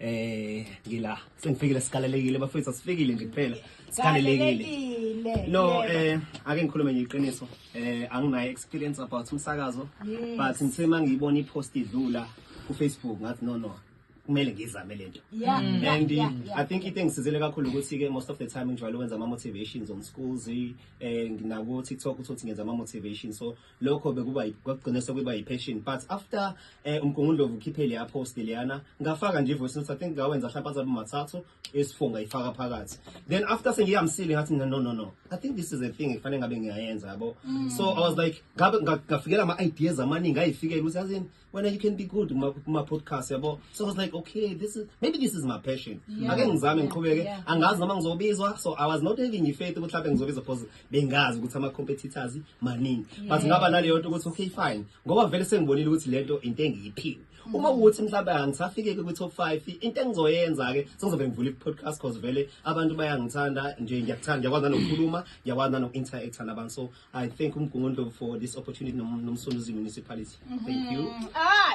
Eh ngila sengifikile sikalelekile bafethu asifikile nje kuphela sikalelekile no eh ake ngikhulume nje iqiniso eh anginayo experience about umsakazo but ngithe mangiyibona ipost idlula ku Facebook ngathi no no kumele ngizame lento mm. and i think into engisizile kakhulu ukuthi ke most of the time ngijwayele ukwenza ama motivations on schools eh nginaku TikTok uthi ngenza ama motivations so lokho bekuba kwagcina sekuba yi-passion but after eh, umgungundlovu ukhiphe leya post leyana ngafaka nje voice note i think ngawenza mhlawumbe azabe mathathu esifunga ifaka phakathi then after sengiyamsile ngathi no no no i think this is a thing efanele ngabe ngiyayenza yabo mm. so i was like ngabe ngafikela ama ideas amaningi ayifikela ukuthi yazini wena you can be good kuma-podcast yabo so i was like okay this is maybe this is my passion yeah. ake ngizame ngiqhubeke yeah. angazi noma ngizobizwa so i was not having ifaith ukuthi mhlawumbe ngizobizwa because bengazi ukuthi ama-competitors maningi yeah. but ngaba naleyo nto ukuthi okay fine ngoba vele sengibonile ukuthi le nto into engiyiphiwe mm. uma ukuthi mhlawumbe angisafike-ke kwi-top five into engizoyenza-ke sengizovele ngivule i-podcast because vele abantu bayangithanda nje ngiyakuthanda ngiyakwazi nanokukhuluma ngiyakwazi nanoku-interacta nabantu so I thank uMgungundlovu for this opportunity nomsunduzi municipality. Thank you. Ah,